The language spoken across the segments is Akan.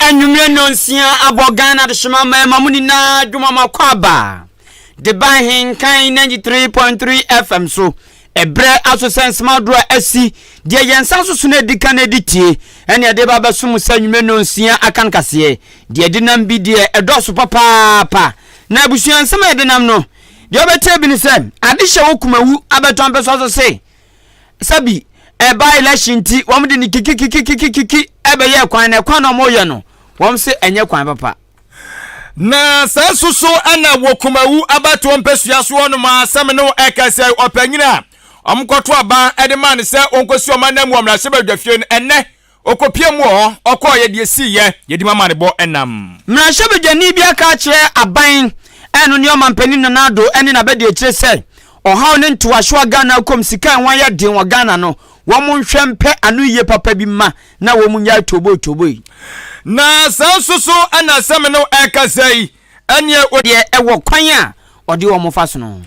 anwummerɛ nnɔnsia abɔ ghana adehyema mmarima mu nyinaa dwomama kɔ aba de ba ahenkan 93.3 fm so ɛberɛ aso sɛ nsomadoro a asi deɛ yɛn nsa so so no adi ka no adi tie ɛne ɛde ba bɛso mu sɛ anwummerɛ nnɔnsia aka no kaseɛ deɛ ɛdenam bi deɛ ɛdɔɔso papaapa na abusua nsɛm a ɛdenam no Deɛ ɔbɛkyerɛ bi ne sɛ ade hyɛ wo kumawu abɛtɔ mpɛsɔ so se sɛ bi ɛba election nti wɔn de ne kikikikikikiki ɛbɛyɛ kwan na kwan na wɔn yɛ no wɔn se ɛnyɛ kwan papa. Na saa nso so ɛna wɔ kumawu abɛtoɔ mpɛsua so hɔ nom a sɛ me ne wo ɛka sɛ ɔpanyin a wɔn kɔto aba ɛde maa no sɛ wɔn kɔsi wɔn anam wɔ mmarahyɛbadwafie no ɛnɛ Ɔkɔpiam wɔ hɔ, ɔkɔeɛ, deɛ ɛsiiɛ, yɛdi mu amanebɔ nam. Mmarahyɛbadwani bi aka akyerɛ aban ɛno ne ɔmanpanin Nana Addo ne n'abadiakyire sɛ ɔhaw ne ntoaso a Ghana rekɔ mu sika a ɛho ayɛ den wɔ Ghana no wɔn nhwɛ mpɛ ano yie papa bi mma na wɔn nnyae tooboi tooboi. Na saa nso so na asɛm no ɛrekasa yi Ɛnneɛ o. Deɛ ɛwɔ kwan a ɔde wɔn fa so no.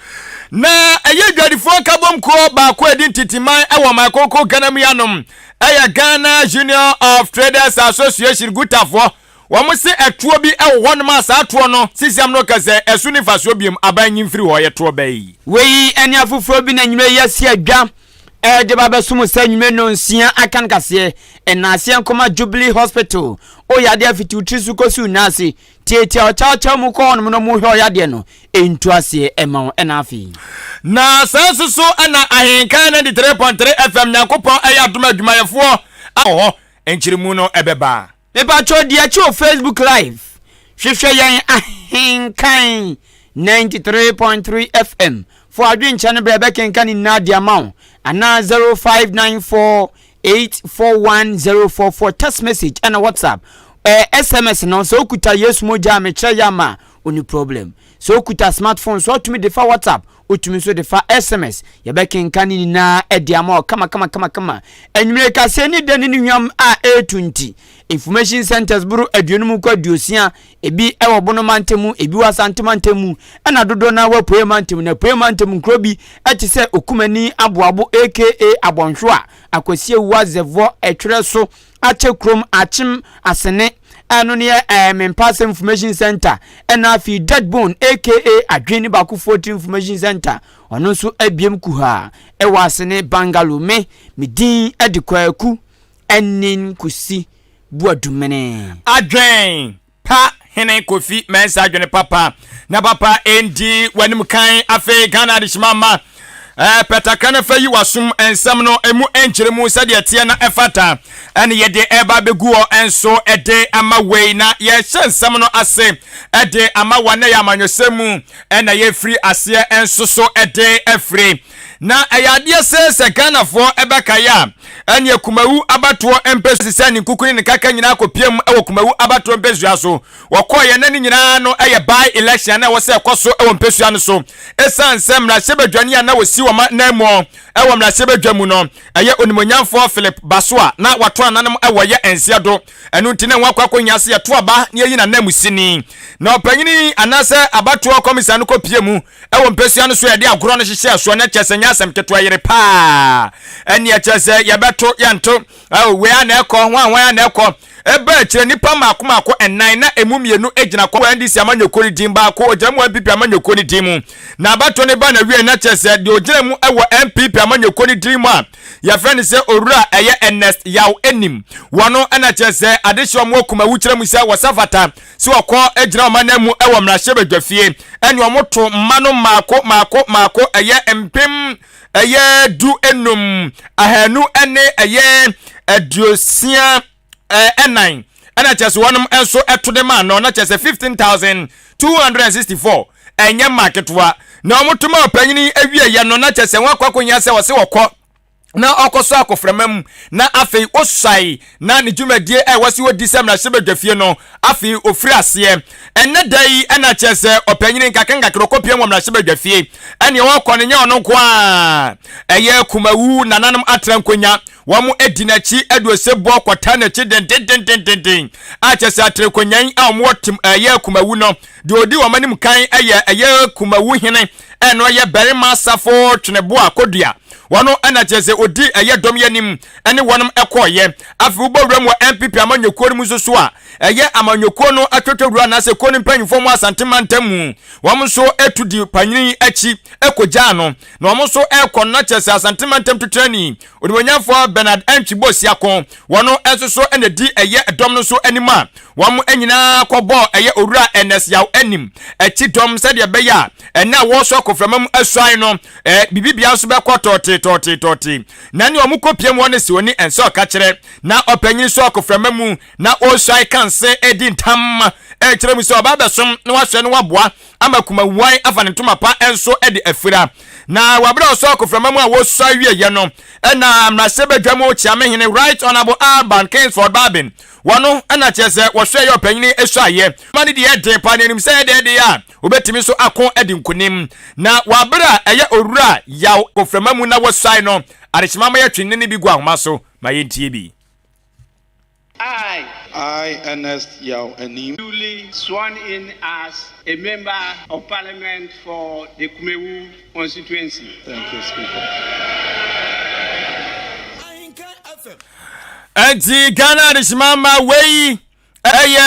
Na ɛyɛ adwadifoɔ nkabom kuo baako a ɛdi nteteman wɔ ɔman kronkron Ghana mu yi anom, ɛyɛ Ghana Union of Traders Association, Gutafoɔ. Wɔn se ɛtoɔ bi wɔ hɔnom a saa toɔ no sisiam no ka sɛ ɛso nni mfasoɔ biom, aban nyi mfiri hɔ, yɛ toɔ bɛyi. Wei ne afoforɔ bi na nnwuma yi asi adwa de ba abɛsom saa nnwuma nnɔnsia aka no kaseɛ, Nnaaseɛ Nkoma Jubilee Hospital, o yadeɛ fiti wo tiri so kɔsi wo nan ase, Tiatia ɔkyawkyaw mu kɔ hɔnom na wɔhwɛ ɔyɛ adeɛ no ntu aseɛ ma wɔn ɛna afei. Na saa nso so na Ahenkan 93.3 FM Nyankopɔn ɛyɛ adom adwumayɛfoɔ a wɔ hɔ nkyeremu no ɛbɛba. Mepakyɛw di akyi wɔ Facebook live hwehwɛ yɛn Ahenkan 93.3 FM fo adwenkyɛ no berɛ ɛbɛkenka ne nyinaa de ama wo anaa 0594 eight four one zero four four text message ɛna whatsapp ɛɛ eh, sms no sɛ okuta yesu mogya a mekyerɛ yɛ ama oni problem sɛ okuta smartphone so ɔtumi de fa whatsapp otumi nso de fa sms yɛbɛkenka ne nyinaa ɛde ama ɔ kama kama kama kama enyimire kaseɛ ne dɛ ne ne hwam a ɛretu nti information centers boro aduonum kɔ aduosia Ebi wɔ Bono mantam mu, ebi wɔ Asante mantam mu, ɛnna dodoɔ no ara wɔ Apueeɛ mantam mu. Na Apueeɛ mantam nkuro bi te sɛ Okumani, Aboabo aka Abɔnhwewa, Akwasia Wua, Zɛvɔ, Ɛtwerɛ So, Akyɛ Kurom, Akyem, Asene, ɛno ne yɛ ɛɛ Mempase Information Centre, ɛnna afei Dead Bone aka Adwene Baakofoɔ Tiri Information Centre, ɔno nso abiem kuhaa wɔ Asene, Bangalore. Me, me din de Kwaku Anin Kusi. Boadumenee. Adwen pa Hene Kofi Mensah adwene papa na papa ndi wanim kan afei Ghana adehyema mma eh, pɛ takra na fa yi wasom nsɛm no emu nkyerɛ mu sɛdeɛ teɛ na ɛfata ɛne yɛde ɛba abɛgu hɔ nso ɛde ama wei na yɛhyɛ nsɛm no ase ɛde ama wɔn na yɛ amanyɔsɛm mu ɛna yɛfiri aseɛ nso so ɛde afiri Na ɛyɛ adeɛ see sɛ Ghanafoɔ bɛkae a, ɛneɛ Kumawu abatoɔ mpɛsua sɛ ne nkuku ne ne kaka nyinaa kɔpiam wɔ Kumawu abatoɔ mpɛsua so. Wɔkɔeɛ na ne nyinaa no yɛ by election a na ɛwɔ sɛ ɛkɔ so wɔ mpɛsua no so. Ɛsiane sɛ mmarahyɛbadwani a na wɔsi wɔn ananmuɔ wɔ mmarahyɛbadwa mu no yɛ Onimuonyamfoɔ Philip Baso a na wato nananom wɔ yɛ nseɛ do, ɛno nti na wɔakɔ akɔhia sɛ yɛto aba na yɛyi n'ananmusini na ɔpanyini anaasɛ abatoɔ kɔmisa no kɔpie mu. Ɛwɔ mpɛsua no so a yɛde agorɔ no hyehyɛɛ soɔ no, ɛkyerɛ sɛ ɛnyɛ asɛm ketewa, yere pa ara. Ɛnneɛ ɛkyerɛ sɛ yɛbɛto, yɛnto, oh, wei a na ɛkɔ, hwan hwan a na ɛkɔ. Ɛbaa akyire, nnipa mmaako mmaako nnan, na ɛmu mmienu gyina kɔ wɔ NDC amanyɔkuo no din, baako ɔgyina mu wɔ NPP amanyɔkuo no din mu. Na abatoɔ no baa n'awieɛ no, ɛkyerɛ sɛ deɛ ɔgyina mu wɔ NPP amanyɔkuo no din mu a yɛfrɛ no sɛ Owura ɛyɛ Ernest Yaw Anim. Wɔno na kyerɛ sɛ adehyeɛ wɔn wɔ Kumawukyerɛ mu sɛ wɔsa fata. sɛ ɔkɔ gyina wɔn anan mu wɔ mmarahyɛbadwafie ɛne wɔn to mma no mmaako mmaako mmaako ɛyɛ mpem ɛyɛ du enum ahanu ɛne ɛyɛ aduosia ɛnan ɛna kyerɛ sɛ wɔn nso ɛto de maa no na kyerɛ sɛ fifteen thousand two hundred and sixty four ɛnyɛ mmaa ketewa na wɔn to ma ɔpanyin awie yɛ no na kyerɛ sɛ wɔn akɔ akɔnya sɛ wɔsɛ wɔkɔ. na ɔkɔ so akɔframa mu na afei osuae na ne dwumadie a ɛwɔ so ɔdi sɛ mmarahyɛbadwafie no afei ɔfiri aseɛ ɛnɛ da yi ɛna kyerɛ sɛ ɔpanyini nkakra nkakra ɔkɔpia wɔ mmarahyɛbadwafie ɛneɛ ɔkɔ no nyɛ ɔno nko a ɛyɛ kumawu nananom atra nkonya wɔn adi n'akyi ɛde osebɔ kɔtaa n'akyi dendendendenden a kyerɛ sɛ atra nkonyan a wɔn ɛyɛ kumawu no deɛ ɔdi wɔn anim kan ɛyɛ ɛyɛ kumawu hene ɛna ɔyɛ barima asafo twenebo a kodua wɔn ɛna kyerɛ sɛ odi ɛyɛ dɔm yɛ anim ɛne wɔn ɛkɔɔyɛ afei wobɔ wura mu wɔ npp amanyɔkuo no mu nso so a ɛyɛ amanyɔkuo no atwotwo wura anaasɛ kuo no mpanyinfoɔ mu asante mantam mu wɔn nso ɛtu di panyini akyi ɛkɔgyaa no na wɔn nso ɛkɔ no na kyerɛ sɛ asante mantam tutrani Onuonyamfoɔ Bernard Archibold Siako, wɔn nso so na di ɛyɛ dɔm no so anim a wɔn nyinaa kɔbɔɔ ɛyɛ Owura Ernest Yaw anim akyi dɔm sɛdeɛ ɛbɛyɛ a ɛnna a wɔresɔ koframa mu asuae no ɛɛ bibibea nso bɛkɔ tɔɔtee tɔɔtee tɔɔtee na nea wɔn kɔpiam hɔ no siwoni ɛnsɛ ɔkakyerɛ na ɔpanyin sɔ koframa mu na ɔresuae kanse edi ntam ɛrekyerɛ mu sɛ ɔba abɛsom na wasoɛ na waboa ama kumawae afa ne ntoma pa nso de afira. Na wɔ bere a ɔsɔɔ akoframa mu a wɔsua wieeɛ no, ɛna mmarahyɛbadwa mu kyeame hene Right Honourable Alban Kingsford Barbin wɔ no, ɛna kyerɛ sɛ wɔhwɛ yɛ ɔpanyini suaeɛ. Ɔma no deɛ den paa na ɛnim sɛ ɛdɛ ɛdeɛ a ɔbɛtumi nso ako adi nkonim. Na wɔ bere a ɛyɛ owura yaw akoframa mu na wɔsuae no, adekyema ma yɛtwe nne no bi gu ahoma so ma yɛntie bi. I. I, Ernest Yaw Anim. Duly sworn in as a Member of Parliament for the Kumewu Constituency. Thank you, Speaker. Enti Ghana Adehyema Mma wei ɛyɛ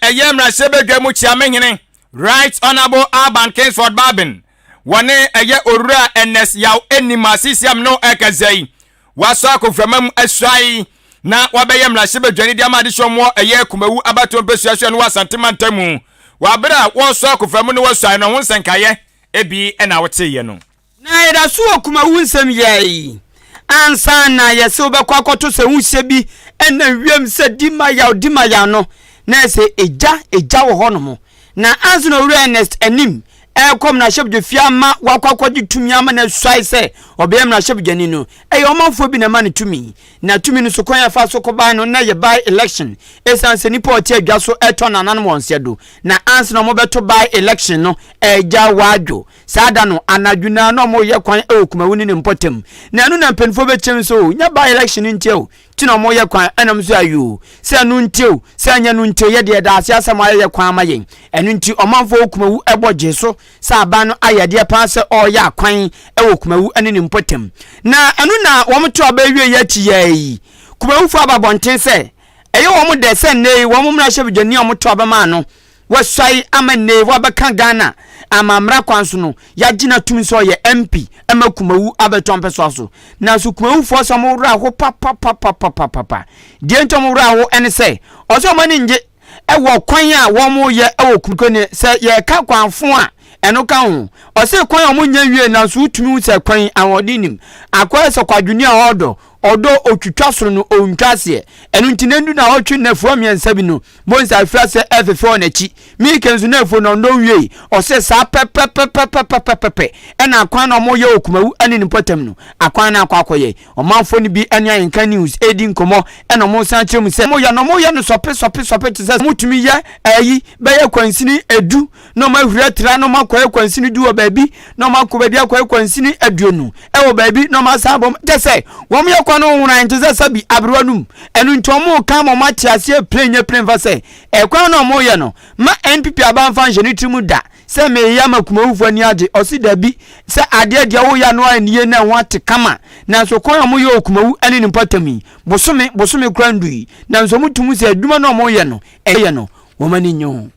ɛyɛ mmarahyɛbadwa mu kyiamehene Right Honourable Alban Kingsford Barbin wɔne ɛyɛ owura Ernest Yaw Anim asisiam no ɛkɛsɛ yi wɔasɔ akoframa mu asuae na wɔabɛyɛ mmarahyɛbadwani de ama adehyɛ wɔn wɔ ɛyɛ Kumawu abatoɔ mpɛsua so ɛno wɔ Asante mantamu. Wɔ abere a wɔresɔ akoframa mu na wɔasuae no, ɛho nsɛnkaeɛ ebi na woteeɛ no. Na yɛda so wɔ Kumawu nsɛm yɛ yi ansa na yɛse wobɛkɔ akɔto sɛ ho hyɛ bi ɛnam wiem sɛ di ma yaw, di ma yaw no na ɛsɛ egya, egya wɔ hɔ nom. Na ansa na Owura Ernest anim rekɔ mmarahyɛbadwafie ama wakɔ akɔgye tumi ama no asuae sɛ ɔbɛyɛ mmarahyɛbadwani no, ɛyɛ ɔmanfoɔ bi na ɛma no tumi. Na tumi no so kwan a ɛfaa so kɔbae no na ɛyɛ by election ɛsiane sɛ nnipa a wɔte adwa so retɔ nananom wɔn sɛdo. Na ansa na wɔbɛto by election no, Agya Wadwo, saa da no anadwo nyinaa na wɔreyɛ kwan wɔ Kumawuni ne Mpɔtam. Na ɛno na mpanimfoɔ bɛkyɛm sɛ o, nyɛ by election ntia o, ti na wɔyɛ kwan ɛnam so ayoo sɛ ɛno nti o sɛ ɛnyɛ no nti o yɛ deɛ daase asɛm ayɛyɛ kwan ama yɛn ɛno nti ɔmanfoɔ kumawu ɛbɔ gyee so sɛ aban no ayɛ adeɛ paa sɛ ɔreyɛ akwan ɛwɔ kumawu ɛne ne mpɔtam na ɛno na wɔn to aba awie yɛ akyi yɛɛ yi kumawufoɔ aba abɔnten sɛ ɛyɛ wɔn dɛ sɛ nnɛ yi wɔn mmarahyɛbadwani a wɔn to aba maa no Wasuae ama nnɛyi wabɛka Ghana amammra kwan so no yɛagye no atum sɛ ɔyɛ MP ma Kumawu abɛtɔ mpɛsoa so. Nanso Kumawufoɔ sɛ ɔmo werɛ aho papapapapapapa. Deɛ nti ɔmo werɛ aho ne sɛ ɔsɛ ɔmo ani ngye wɔ kwan a wɔmo yɛ wɔ Kumkɔ ne sɛ yɛka kwan fo a ɛno ka ho. Ɔsɛ kwan a ɔmo nyɛ nwie nanso wotumi hu sɛ kwan yi ahoɔden nim. Akoa sɛ kwadwoni a ɔɔdɔ. Ɔdɔ otwitwa soro no ontwa aseɛ. Ɛno nti na ɛndu naawɔtwe nnafua mmiɛnsa bi no, Mose afi ase ɛrefefɛ wɔn akyi. Mika nso n'afuo no ɔnnɔ nwiei. Ɔse, Saa pɛpɛpɛpɛpɛpɛpɛpɛ na akwan na wɔyɛ wɔ Kumawu ne ne mpɔtam no, akwan no akɔ akɔyɛ. Ɔmanfoɔ no bi ne Ayɛnka News redi nkɔmmɔ na wɔresan akyerɛ mu sɛ, wɔyɛ no wɔyɛ no sɔpe sɔpe sɔpe te sɛ wɔtumi yɛ ayi bɛyɛ kwansini du, na wɔn ahuri atra na wɔn akɔ ayɛ kwansini du wɔ baabi na wɔn akɔ baabi akɔ ayɛ kwansini aduonu wɔ baabi na wɔn asan abɔ mu kyɛ sɛ wɔn yɛ kwan no nwona nte sɛ sabi aberewa no mu ɛno nti wɔn ka ma wɔn ate aseɛ plane nyɛ plane fa sɛ ɛkwan na wɔn yɛ no ma npp abanfa nhyɛ ne tiri mu da sɛ meyɛ ama kumawufo ani agye ɔsi dabi sɛ adeɛ deɛ wɔyɛ ano a nie na ɛho ate kama nanso kwan a wɔyɛ wɔ kumawu ne ne mpɔtam yi bosome bosome kora ndu yi nanso wɔn tum sɛ adwuma na wɔyɛ no ɛyɛ no wɔn ani nye ho.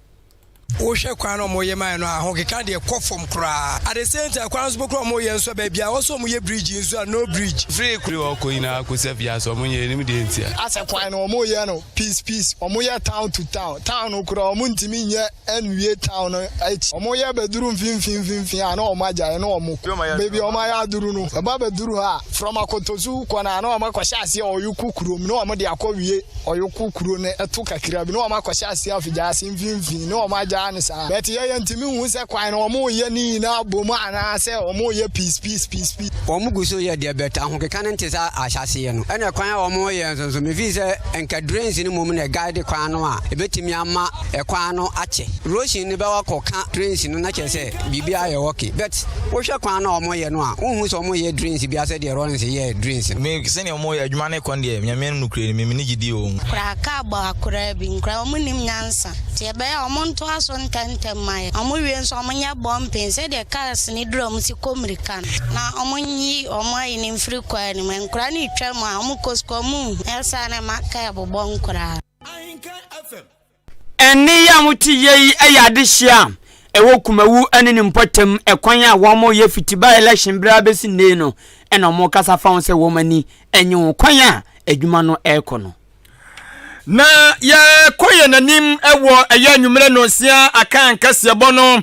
Wohwɛ kwan no a wɔyɛ mae no a, ahokeka deɛ kɔ fam koraa. At the same time, kwan no nso bɛkorɔ a wɔyɛ nso a, baabi a ɛwɔ sɛ wɔyɛ bridge nso a, no bridge. Firi kuro hɔ kɔ nyinaa kɔsi afiase, wɔnyɛ, yɛnnim deɛ ntia. Asɛ kwan no wɔyɛ no piece piece, wɔyɛ town to town, town no koraa wɔntumi nyɛ nwie town no akyi. Wɔyɛ bɛduru mfimfini mfimfini a na wɔagyae na wɔkɔ. Baabi a wɔayɛ aduru no, ɛba bɛduru hɔ a, from Akotosu kɔ no a na wɔakɔhyɛ aseɛ ɔyoko kurom na wɔde akɔwie. ɔyoko kuro no ɛto kakra bi na wɔn akɔhyɛ aseɛ afigyase mfimfini na wɔn agyaa no saa but yɛ yɛ ntumi nhu sɛ kwan no wɔn yɛ ne nyinaa abom anaa sɛ wɔn yɛ peace peace peace peace. Wɔn gu so yɛ deɛ but ahokeka no nte sɛ ahyɛaseɛ no ɛna kwan a wɔn yɛ nso nso me feel sɛ nka drains no mmom na guide kwan no a ɛbɛtumi ama ɛkwan no akyɛ rosion no bɛwɔ akɔ ka drains no na kyerɛ sɛ biribi ayɛ wɔke but wohwɛ kwan na wɔn yɛ no a wohu sɛ wɔn yɛ drinks bi asɛ deɛ Rollins yɛ drinks. mi sɛnea wɔn yɛ adwuma ne kɔn deɛ nyame no kura ni mi mi ni gyidi wɔ wɔn. Kura kaa bɔ akoraa bi nkoraa wɔn nim nyansa nti ɛbɛyɛ a wɔn ntoa so ntɛntɛm ma yɛ wɔn wie nso wɔn nyɛ bumping sɛdeɛ cars no dura wɔn si kɔ mirika no na wɔn nyi wɔn ayi no mfiri kwan no mu nkoraa no retwa mu a wɔn kɔ sukuu wɔn nhu ɛyɛ saa na ɛma kaa bobɔ nkoraa. Ɛnne yi a mote yɛ yi yɛ adehyeɛ a ɛwɔ Kumawu ne ne mpɔtam ɛkwan a wɔyɛ fiti by election berɛ ara bɛsi nnɛ yi no na wɔkasa fa ho sɛ wɔn ani nnye ho kwan a adwuma no rekɔ no. Na yɛkɔ yɛn anim wɔ ɛyɛ anwummerɛ nnɔnsia akan kaseɛbɔ no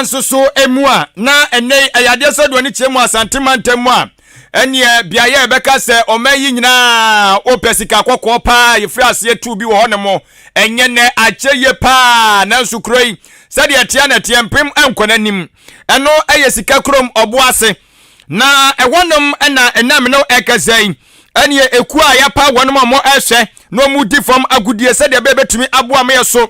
nso so mu a, na ɛnnɛ yi ɛyɛ adeɛ sɛ deɛ ɔne kyerɛ mu Asante mantam mu a, ɛneɛ beaeɛ a ɛbɛka sɛ ɔman yi nyinaa wopɛ sika kɔkɔɔ paa yɛfiri aseɛ tuu bi wɔ hɔ no mo. Ɛnyɛ nɛ akyɛ yie paa nanso kuro yi sɛdeɛ ɛteɛ na ɛteɛ mpem nkɔ n'anim. Ɛno ɛyɛ sika kurom ɔbo ase na ɛhɔnom ɛna ɛnna mene ɛkasa yi ɛneɛ ɛkuo a yɛapa wɔnom a wɔn ɛhwɛ na wɔn di fam agudie sɛdeɛ ɛbɛyɛ bɛtumi aboa ma yɛ so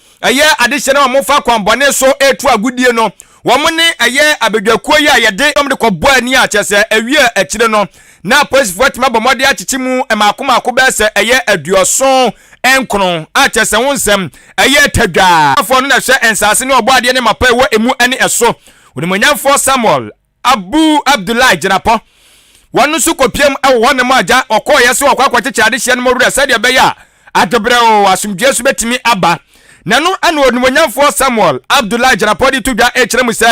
ɛyɛ adehyɛ no a wɔfa akwammɔne so retu agodie no, wɔn ne ɛyɛ abadwakuo yi a yɛde wɔn de kɔbɔ ani a kyerɛ sɛ awie a akyire no na apolisifoɔ atumi abɔ mmɔden akyekye mu mmaako mmaako bɛyɛ sɛ ɛyɛ aduɔson nkron a kyerɛ sɛ ho nsɛm ɛyɛ tadwa. Ɔbɔafoɔ no na ɛhwɛ nsase ne ɔbɔadeɛ ne mapa a ɛwɔ emu ne ɛso, Onimuonyamfoɔ Samuel Abu Abdullah Gyinapɔ. Wɔn nso kɔpiam wɔ hɔnom a gya wɔkɔeɛ so wɔkɔ akɔkyekyere adehyeɛ no mu werɛ sɛdeɛ ɛbɛyɛ a adebrɛw asomdwoeɛ so bɛtumi aba. Na ɛno na Onimuonyamfoɔ Samuel Abdullah Gyinapɔ de to dwa kyerɛ mu sɛ,